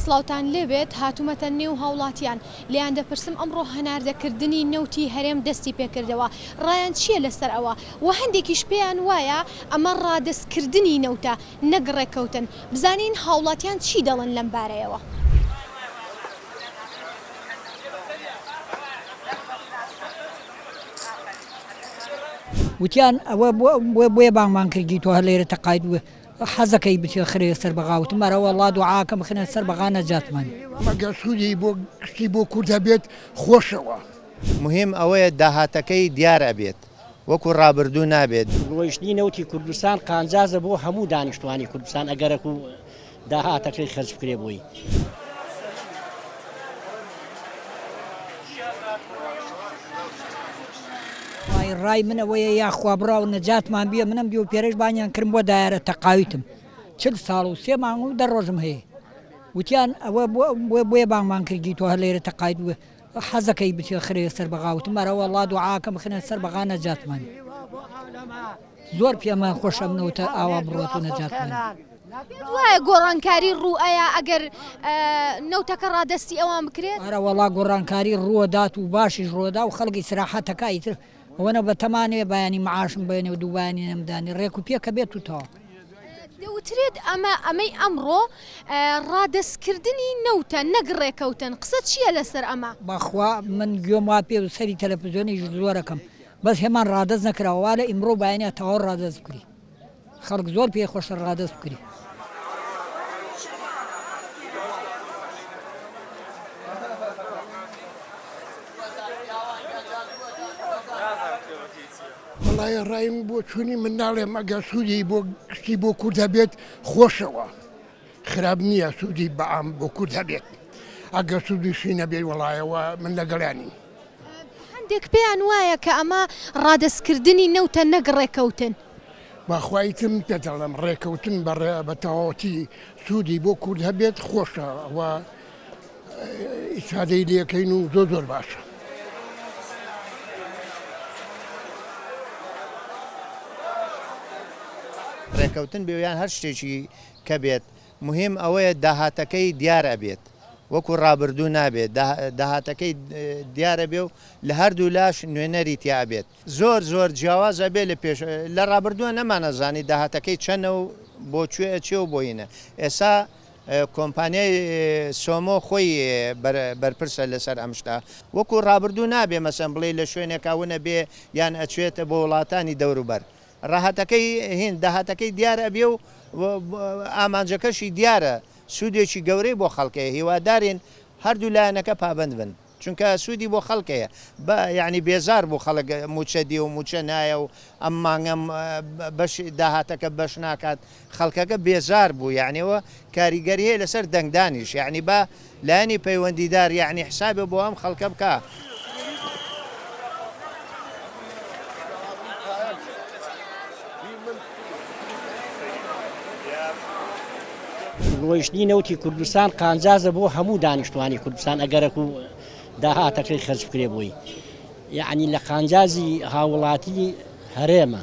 سڵاوتان لێ بێت هاتومەتە نێو هاوڵاتیان لێیان دەپرسم ئەمڕۆ هەناردە کردنی نەوتی هەرێم دەستی پێ کردەوە ڕایان چیە لەسەر ئەوە وە هەندێکیش پێیان وایە ئەمە ڕادەست کردنی نەوتە نەک ڕێککەوتن بزانین هاوڵاتیان چی دەڵێن لەم بارەیەوە. وتیان ئەوە بۆیە بانگمان کردی تۆ هەر لێرە تەقاید بووە حەزەکەی بچێ خرێ سەر بەغا وتم ئەرەوە ڵا دوعاکە بخنە سەر بەغا نەجاتمان مەگەر سوودی بۆ گشتی بۆ کوردە بێت خۆشەوە. مهیم ئەوەیە داهاتەکەی دیار ئەبێت وەکو ڕابردوو نابێت. فرۆشتنی نەوتی کوردستان قانجازە بۆ هەموو دانیشتوانی کوردستان ئەگەرەک و داهاتەکەی خەرج بکرێت بۆی. وای ڕای من ئەوەیە یاخوا بڕاو نەجاتمان بیە منم دیو پێرەش بانیان کرم بۆ دایارە تەقاویتم چل ساڵ و سێ مانگ و دە ڕۆژم هەیە وتیان ئەوە بۆ بۆیە بانگمان کردی تۆ هەر لێرە تەقاویت بووە حەزەکەی بچێ خرێ سەر بەغا وتم ئەرە وەڵا دوعاکە بخنە سەر بەغا نەجات من زۆر پێمان خۆشە منەوتە ئاوا بڕۆت و نەجات من. وایە گۆڕانکاری ڕوو ئەیە ئەگەر نەوتەکە ڕادەستی ئەوان بکرێت ئەرە وەڵا گۆڕانکاری ڕووەدات و باشیش ڕۆدا و خەڵکی سراحەتەکە ئیتر ئەوەنە بەتەما نەبێ بەیانی معاشم بێنێ و دوو بەیانی نەمدانێ، ڕێک و پێکە بێت و تەواو. دەوترێت ئەمە، ئەمەی ئەمڕۆ، ڕادەستکردنی نەوتە نەک ڕێکەوتن، قسە چییە لەسەر ئەمە؟ بەخوا من گوێم وا پێ بوو، سەیری تەلەفزیۆنیش زۆر ئەکەم، بەس هێمان ڕادەست نەکراوە، وا لە ئیمڕۆ و بەیانیا تەواو ڕادەست بکری. خەڵک زۆر پێی خۆشە ڕادەست بکری. وەڵایە ڕایم بۆچوونی من ناڵێم ئەگەر سوودی بۆ گشتی بۆ کورد هەبێت خۆشەوە. خراپ نیە سودی بەعام بۆ کورد هەبێت ئەگەر سودیشی نەبێت وەڵای ئەوە من لەگەڵیان نیم. هەندێک پێیان وایە کە ئەمە ڕادەست کردنی نەوتە نەک ڕێکەوتن. بەخوا ئیتر من پێت ئەڵێم ڕێکەوتن بە ڕێ بە تەواوەتی سودی بۆ کورد هەبێت خۆشە و ئیسفادەی لێ کەین و زۆر زۆر باشە. ڕێکەوتن بێ یان هەر شتێکی کە بێت مهیم ئەوەیە داهاتەکەی دیار ئەبێت وەکو ڕابردوو نابێت داهاتەکەی دیارە بێ و لە هەردوو لاش نوێنەری تیا ئەبێت زۆر زۆر جیاواز ئەبێ لە پێش لە ڕابردووە نەمانەزانی داهاتەکەی چەنە و بۆ کوێ ئەچێ و بۆینە ئێسا کۆمپانیای سۆمۆ خۆی بەرپرسە لەسەر ئەم شتا وەکو ڕابردوو نابێ مەسم بڵێ لە شوێنێکاونە بێ یان ئەچێتە بۆ وڵاتانی دەوروبەر ڕەهەتەکەی هیند داهاتەکەی دیار ئەبێ و ئامانجەکەشی دیارە، سوودێکی گەورەی بۆ خەڵک هەیە، هیوادارین هەردوو لایەنەکە پابەند بن، چونکە سوودی بۆ خەڵک هەیە، بە یانی بێزار بوو خەڵک مووچە دێ و مووچە نایە و ئەم مانگە بەشی داهاتەکە بەش ناکات، خەڵکەکە بێزار بوو یەعنی و کاریگەری هەیە لەسەر دەنگدانیش یەعنی با لایەنی پەیوەندیدار یەعنی حسابێ بۆ ئەم خەڵکە بکا. فرۆشتنی نەوتی کوردستان قانجازە بۆ هەموو دانیشتوانی کوردستان ئەگەرەک و داهاتەکەی خەرج بکرێ بووی یعنی لە قانجازی هاوڵاتی هەرێمە.